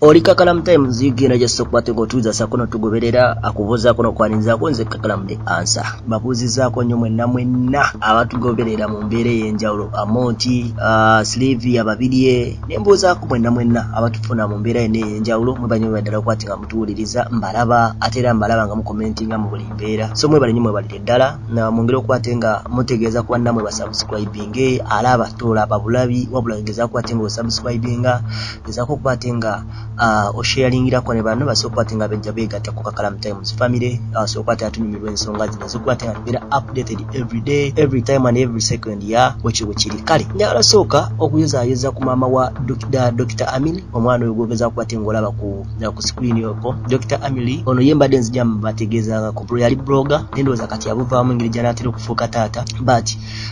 oli kakalamu times zigenda just okukwata nga otuuza sako notugoberera akubuuzaako nokwanirizaako nze kakalamu the answer babuuzizaako nnyo mwenna mwenna abatugoberera mu mbeera ey'enjawulo amonti uh, slivia babirye ne mbuuzaako mwenna mwenna abatufuna mu mbeera yonna ey'enjawulo mwebanyo mwebaddala okwati nga mutuwuliriza mbalaba ate era mbalaba nga mukomentinga mu buli mbeera so mwebale nnyo mwebalire ddala mwongere okwate nga mutegeeza ku bannamwe basubscribinge alaaba tolaba bulabi wabula ngeza kwate nga osubscribinga Gezaako okuba ate nga uh, osheyalingirako ne banno basobola okuba ate nga bejja beegatta ku Kakalamu Times family asobola uh, okuba ate atunyumirwa ensonga zino ezikuba ate nga tubeera updated every day every time and every second ya bwekyo bwe kiri kale njagala sooka okuyozaayoza ku maama wa Dr Amin omwana oyo gwogeza kuba ate ng'olaba ku ku screen oko Dr Amili ono ye mbadde nzija mbategeezaako yali blogger nendowooza kati abuvaamu engeri gyanaatera okufuuka taata but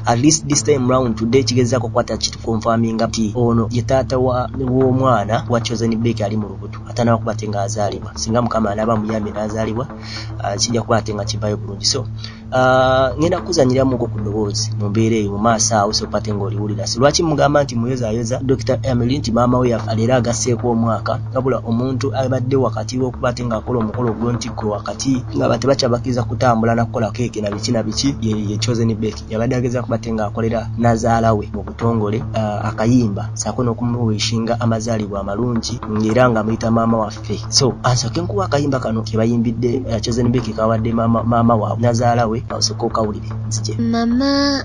at least this time round today kigezako kwata kitu confirming ati ono ye taata wa w'omwana wa chosen bek ali mu lubuto atanawa kuba ate nga azaalibwa singa mukama anaaba muyambye n'azaalibwa uh, kijja kuba ate nga kivayo bulungi so uh, ngenda kuzanyiramuko ku ddoboozi mu mbeera eyo mu maaso awo sokuba ate nga oliwulira si lwaki mugamba nti muyozayoza dr emily nti maama we yafa leero agasseeko omwaka wabula omuntu abadde wakati w'okuba ate ng'akola omukolo ogwo nti gwe wakati nga abantu tebakyabakiriza kutambula nakukola keeke na biki na biki ye chosen beki yabadde ageza kubate nga akolera nazaala we mu butongole uh, akayimba saako n'okumuwishinga amazaalibwa amalungi ng'era nga muyita maama waffe so ansooke nkuwa akayimba kano ke bayimbidde uh, chosen beki kawadde maama waabwe nazaala we osooka okawulire nzije mama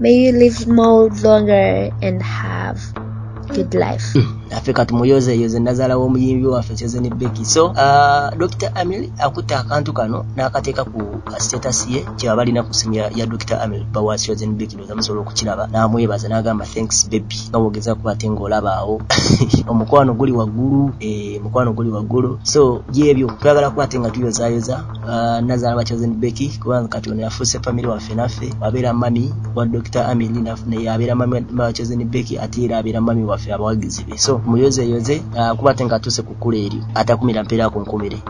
may you live more longer and have good life hmm. affe kati muyozeyoze nazala w'omuyimbi waffe kyezeni beki so uh, dr amil akutte akantu kano n'akateeka ku status ye kyeba balina ku simu ya dr amil bawa chosen beki noza musobola okukiraba n'amwebaza n'agamba thanks baby nga wogeza kuba ate ng'olabaawo omukwano guli waggulu eh, omukwano guli waggulu so gyebyo twagala kuba ate nga tuyozayoza Uh, nazala bachosen beki kubanga kati ono yafuuse famire waffe naffe abeera mami wa dr amili naye abeera mami bachosen beki ate era abeera mami waffe abawagizi be so muyozeyoze uh, kuba ate nga atuuse ku kkula eryo atakumira mpeera ku nkumire